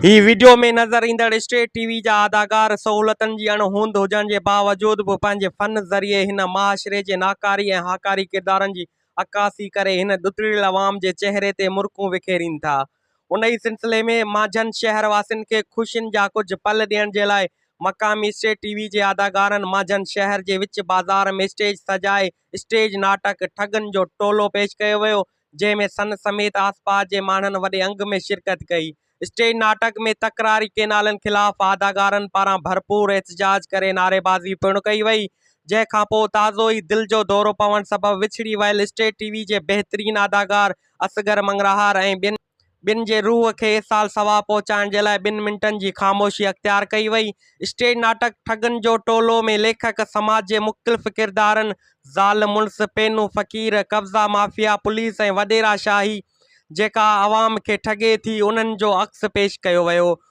هي video ۾ نظر ايندڙ state T V جا اداڪار سهولتن جي اڻ هوند هجڻ جي باوجود به پنهنجي فن ذريعي هن معاشري جي ناڪاري ۽ هاڪاري ڪردارن جي عڪاسي ڪري هن ڏتڙيل عوام جي چهري تي مرڪون وکيرين ٿا. ان ئي سلسلي ۾ مانجهن شهر واسين کي خوشين جا ڪجهه پل ڏيڻ جي لاء مقامي اسٽيٽ ٽي وي جي اداڪارن مانجهن شهر جي وچ بازار ۾ اسٽيج سجائي اسٽيج ناٽڪ ٺڳن جو ٽولو پيش ڪيو ويو جنهن ۾ سن سميت آسپاس جي ماڻهن وڏي انگ ۾ شرڪت ڪئي. اسٽيج ناٽڪ ۾ تڪراري ڪينالن خلاف اداڪارن پاران ڀرپور احتجاج ڪري نعريبازي پڻ ڪئي وئي، جنهن کانپوء تازو ئي دل جو دورو پوڻ سبب وڇڙي ويل اسٽيج ٽي وي جي بهترين اداڪار اصغر مڱرهار ۽ ٻين ٻن جي روح کي ايصال ثواب پهچائڻ جي لاء ٻن منٽن جي خاموشي اختيار ڪئي وئي. اسٽيج ناٽڪ ٺڳن جو ٽولو ۾ ليکڪ سماج جي مختلف ڪردارن، زال مڙس، پينو فقير، قبضا مافيا، پوليس ۽ وڏيرا شاهي، جيڪا عوام کي ٺڳي ٿي، انهن جو عڪس پيش ڪيو ويو.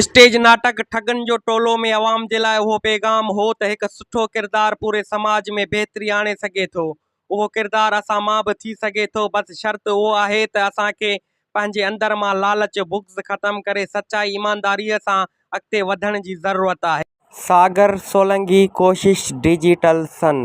اسٽيج ناٽڪ ٺڳن جو ٽولو ۾ عوام جي لاء اهو پيغام هو ته هڪ سٺو ڪردار پوري سماج ۾ بهتري آڻي سگهي ٿو. اهو ڪردار اسان مان به ٿي سگهي ٿو بس شرط اهو آهي ته اسان کي پنهنجي اندر مان لالچ، بغض ختم ڪري سچائي ايمانداريء سان اڳتي وڌڻ جي ضرورت آهي. ساگر سولنگي ڪوشش ڊجيٽل سن.